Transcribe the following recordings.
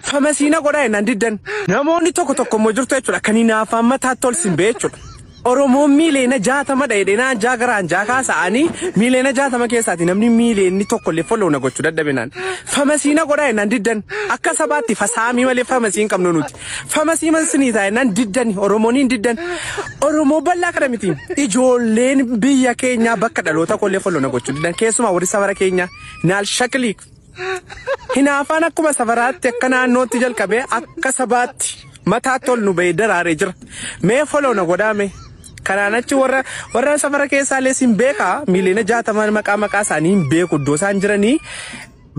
Famasii na godhaa jennaan diddan. Namoonni tokko tokko immoo jirtu jechuudha kan hinaafaan mataatti ol sin ba'e jechuudha. Oromoon miiliyoona jaatama dha'e dheenaa anjaa gara anjaa kaasa'anii miiliyoona jaatama keessaati namni miiliyoonni tokko illee follow na gochuu dadhabenaan. Famasii na godhaa jennaan diddan. Akka sabaatti fasaamii malee famasii hin qabnu nuti. Famasii man sinii ta'a jennaan diddan Oromoon hin diddan. Oromoo bal'aa kana miti. Ijoolleen biyya keenyaa bakka dhaloota kollee follow na gochuu diddan. Keessumaa warri safara keenyaa naal shakliik. Hinaafaan akkuma safaraatti akka naannootti jalqabee akka sabaatti mataatti ol nu ba'ee daraaree jira. Mee foloo na godhaame. Kanaan achi warra warra safara keessaa illee siin beekaa miiliyoona jaatamaan maqaa maqaa isaanii hin beeku iddoo isaan jiranii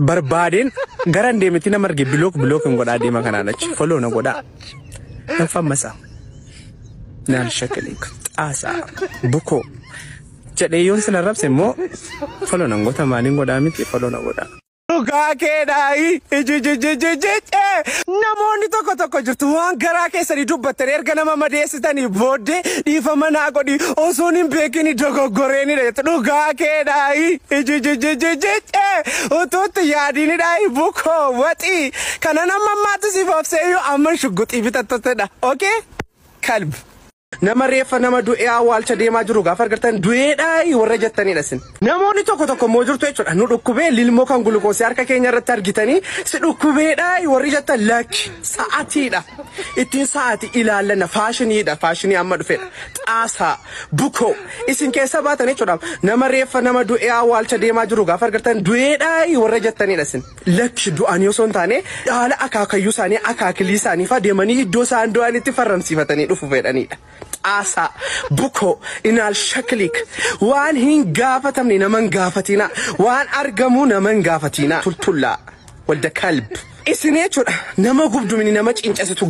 barbaadeen gara hin deemetti nama arge bilook bilook hin godhaa deema kanaan achi foloo na godhaa. Hin fammasaa. Naan shakaliik xaasaa bukoo Jedhee yoon sin arrabse immoo follow nan goota maaliin godhaa miti follow na godhaa. Dhugaa keedhaa ijijijijijijee namoonni tokko tokko jirtu waan garaa keessanii dubbattan erga nama madeessitanii booddee dhiifama naa godhi osoon hin beekin dogoggoreenidha jettu dhugaa keedhaa ijijijijijijee utuutti yaadiinidhaa bukoo waxii kana nama ammaatti siif obseeyyuu amma shugguxii bitattotedha okay kalbi. Nama reeffa nama du'ee awwaalcha deemaa jiru gaafa argattan du'eedhaayi warra jettanidha isin. Namoonni tokko tokko immoo jirtu jechuudha. Nu dhukkubee lilmoo kan gulukoosii harka keenya irratti argitanii si dhukkubeedhaayi warri jettan lakki sa'atiidha. Ittiin sa'ati ilaallanna faashiniidha faashinii amma dhufedha. Xaasaa bukoo isin keessa baatan jechuudha. Nama reeffa nama du'ee awwaalcha deemaa jiru gaafa argattan du'eedhaayi warra jettanidha isin. Lakki, du'anii osoo hin taane, dhaala akaakayyuu isaanii, akaakilii isaanii faa deemanii iddoo isaan du'anitti farramsiifatanii dhufu fedhanii dha. Xaasaa, bukoo, inaal shakiliik. Waan hin gaafatamne nama hin gaafatiinaa. Waan argamuu nama hin gaafatiinaa. Tultullaa. Walda kalb. Isin jechuu dha. Nama gubdu mini nama ciincesitu.